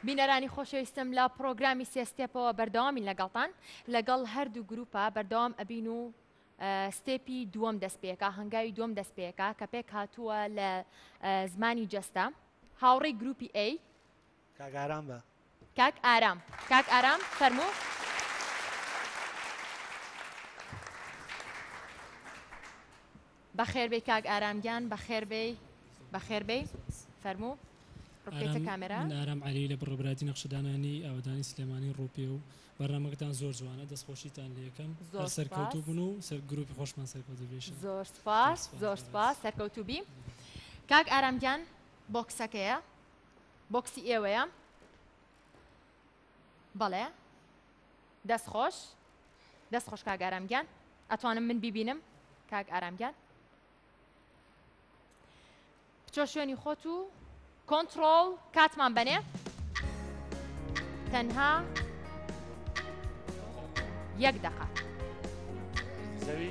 بینەرانی خۆشەویستم لە پرۆگرامی سێ ستێپەوە بەردەوامی لەگەڵتان لەگەڵ هەردوو گروپە بەردەوام ئەبین و ستێپی دووەم دەست پێکا هەنگاوی دووەم دەست پێکا کە پێک هاتووە لە زمانی جەستە هاوڕێی گروپی ئەی کاگاران بە کاک ئارام کاک ئارام فەرموو بەخێر بێی کاک ئارام گیان بەخێر بێی بەخێر بێی فەرموو ڕوپێتە ئارام کامێرا من ئارام عەلی لە بڕە براتی نەخشەدانانی ئاوەدانی سلێمانی ڕووپێ و بەرنامەکەتان زۆر جوانە دەست خۆشیتان لێ یەکەم زۆر هەر سەرکەوتوو سوپاس بن و سەر گروپی خۆشمان سەرکەوتوو بێ ئیشەڵا زۆر زۆر سوپاس سوپاس زۆر زۆر سوپاس ڕێز سەرکەوتوو بی کاک ئارام گیان بۆکسەکەیە بۆکسی ئێوەیە بەڵێ دەست خۆش دەست خۆش کاک ئارام گیان ئەتوانم من بیبینم کاک ئارام گیان بچۆ شوێنی خۆت و کۆنتترۆڵ کاتمان بەنێ تەنها یەک دەقە زەوی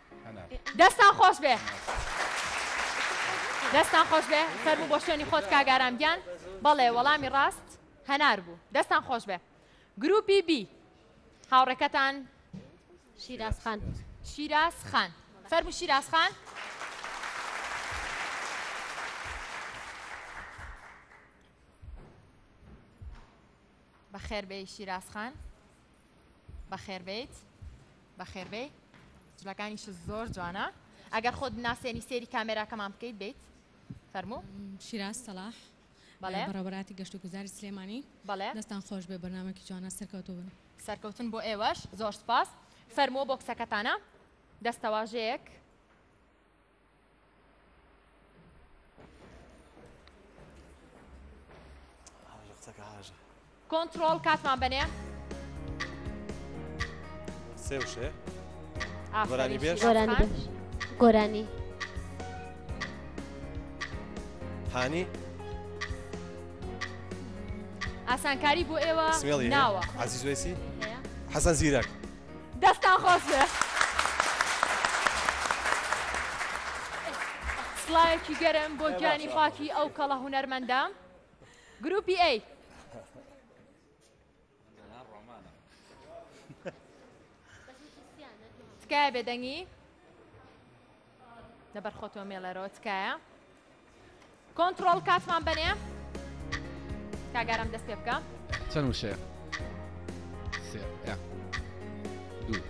دەستان خۆشبێ دەستان خۆشبێ فەرموو بۆ شوێنی خۆت کاگارام گیان بەڵێ وەڵامی ڕاست هەنار بوو دەستان خۆشبێ گروپی بی هاوڕێکەتان شیراز خان شیراز خان فەرمو شیراز خان بەخێر بێ شیراز خان بەخێربێیت بەخێربێی جلەکانیش زۆر جوانە ئەگەر خۆت ناسێنی سێری کامێراکەمان بکەیت بیت فەرموو شیراز سەلاح بەڵێ بەڕێوەبەراتی گەشت و گوزاری سلێمانی بەڵێ دەستان خۆش بێ بەرنمەکی جوانە سەرکەوتو بن سەرکەوتن بۆ ئێوەش زۆر سپاس فەرمووە بۆ کچەکەتانە دەستەواژەیەک کۆنتڕۆڵ کاتمان بەنێ سێ وشەیە گۆرانی بێژ گۆرانی بێژ گۆرانی هانی ئاسانکاری بۆ ئێوە سمێڵی ناوە عزیز وێسی حەسەن زیرەک دەستان خۆش بێ. سڵاوێکی گەرم بۆ گیانی پاکی ئەو کەڵە هونەرمەندە گروپی ئەی تکایە بێدەنگی لەبەر خۆتۆ مێڵەرەوە تکایە کۆنتترۆڵ کاتمان بەنێ کاگارم دەست پێ بکە چەند وشەیە دوو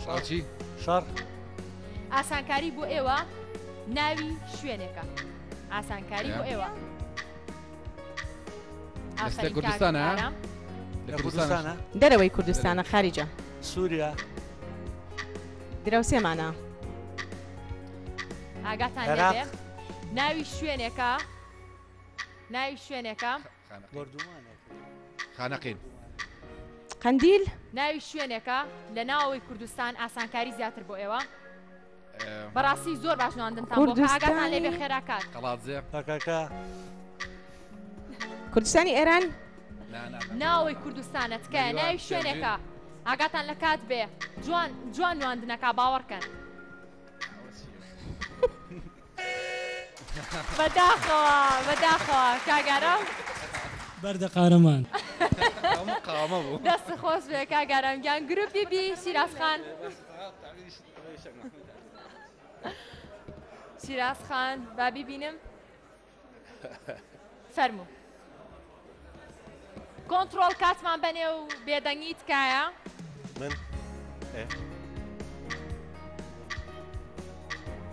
شاچی شار ئاسانکاری بۆ ئێوە ناوی شوێنێکە ئاسانکاری بۆ ئێوە. لە کوردستانە لە کوردستانە دەرەوەی کوردستانە خارجە سووریا دراوسێمانە ئاگاتان ناوی شوێنێکە ناوی شوێنێکە خانەقین قندیل ناوی شوێنێکە لە ناوەوەی کوردستان ئاسانکاری زیاتر بۆ ئێوە بەڕاستی زۆر باش نواندنتان بۆ کە ئاگاتان لێ بێ خێرا کات کەڵاتزێ پەکەکە کوردستانی ئێران ناوەی کوردستانە تکایە ناوی شوێنێکە ئاگاتان لە کات بێ جوان جوان نواندنەکە باوەڕکەن بەداخەوە بەداخەوە کاگارم بەردە قارەمان دەست خۆش بێ کاگارم گیان گروپی بی شیرازخان شیراز خان با بیبینم فەرموو کۆنتترۆل کاتمان بەنێ و بێدەنگی تکایە من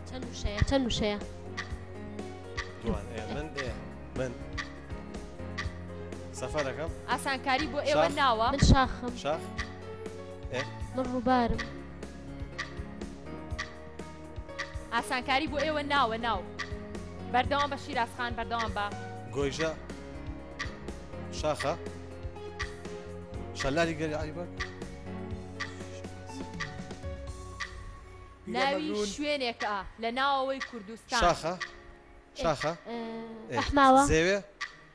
چەند وشەیە چەند وشەیە من من سەفەرەکەم ئاسانکاری بۆ ئێوە ناوە من شاخم شاخ من ڕووبارم ئاسانکاری بۆ ئێوە ناوە ناو بەردەوام بە شیرازخان بەردەوام بە گۆیژە شاخە شەلاری گەری عیبەر ناوی شوێنێکە لە ناوەوەی کوردستان شاخە شاخە ئەحماوە زێوێ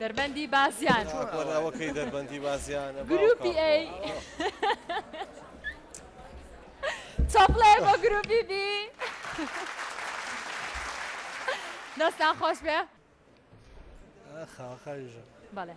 دەربەندی بازیان. چۆن ئەوە کەی دەربەندی بازیانە گروپی ئەی چاپڵێ بۆ گروپی بی دەستان خۆش بێ خاوەکاری ژە بەڵێ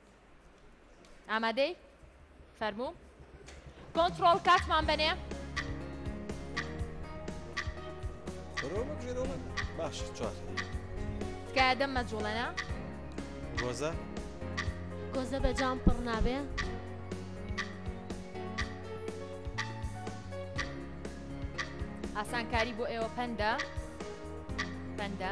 ئامادەی؟ فەرموو کۆنترۆڵ کاتمان بەنێ باش چوار تکایە دەم مەجوڵێنە گۆزە گۆزە بە جام پڕ نابێ ئاسانکاری بۆ ئێوە پەندە پەندە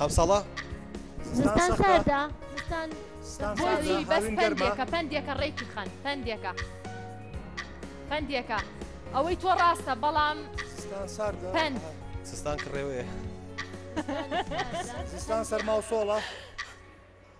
ئەمساڵە زستان ساردە زستان بۆچی بەس پەندێکە پەندێکە ڕێکی خەن پەندێکە پەندێکە ئەوەی تۆ ڕاستە بەڵام پەند سستان کڕێوەیە زستان سەرما و سۆڵە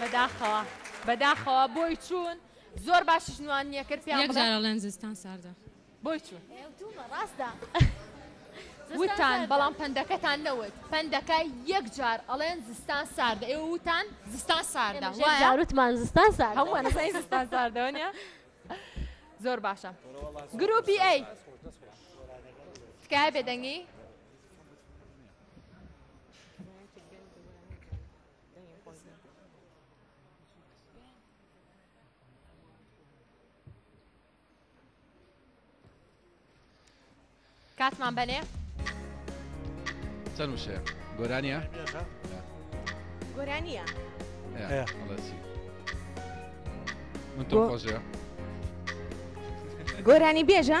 بەداخەوە بەداخەوە بۆی چوون زۆر باشیش نوان نییە کرد پێیان یەک بڵێ جارە لەن زستان ساردە بۆی چوون ئەوتومە ڕاستە وتان بەڵام پەندەکەتان نەوت پەندەکە یەک جار ئەڵێن زستان ساردە ئێوە وتان زستان ساردە وایە جاروتمان زستان سارد هەمووان زای زستان ساردەوە نیە زۆر باشە گروپی ئەی تکایە بێدەنگی کاتمان بەێ چەند وشەیە گۆرانیە گۆرانیە من تۆ خۆشە گۆرانی بێژە؟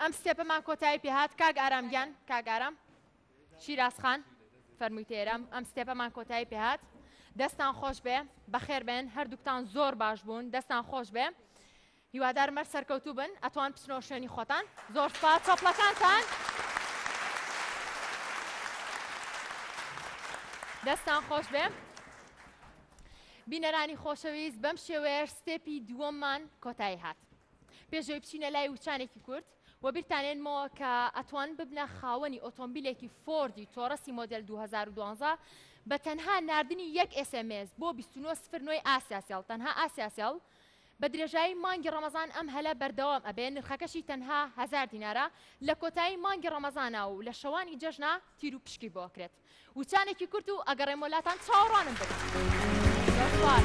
ئەم ستێپەمان کۆتایی پێهات کاک ئارام گیان کاک ئارام شیراز خان فەرمووی تێرام ئەم ستێپەمان کۆتایی پێهات دەستان خۆش بێ بەخێر بێن هەردووکتان زۆر باش بوون دەستان خۆش بێ هیوادار مەر سەرکەوتوو بن ئەتوان بچنەوە شوێنی خۆتان زۆر سپاس چۆپلەکانتان دەستان خۆش بێ بینەرانی خۆشەویست بەم شێوەیەش ستێپی دووەممان کۆتایی هات پێش ئەوەی بچینە لای وچانێکی کورت و بیرتان هێنمەوە کە ئەتوان ببنە خاوەنی ئۆتۆمبیلێکی فۆردی تۆرەسی مۆدل 2012 بە تەنها نردنی یەک ئسMS بۆ 29 ئاسیاسیل تەنها ئاسیاسیل بە درێژایی مانگی ڕەمەزان ئەم هەلە بەردەوام ئەبێ نرخەکەشی تەنها هزار دینارە لە کۆتایی مانگی ڕەمەزانە و لە شەوانی جەژنا تیر و پشکی بۆکرێت. وچانێکی کورت و ئەگەڕێمەوە لاتان چاوەڕوانم بن زۆر سوپاس.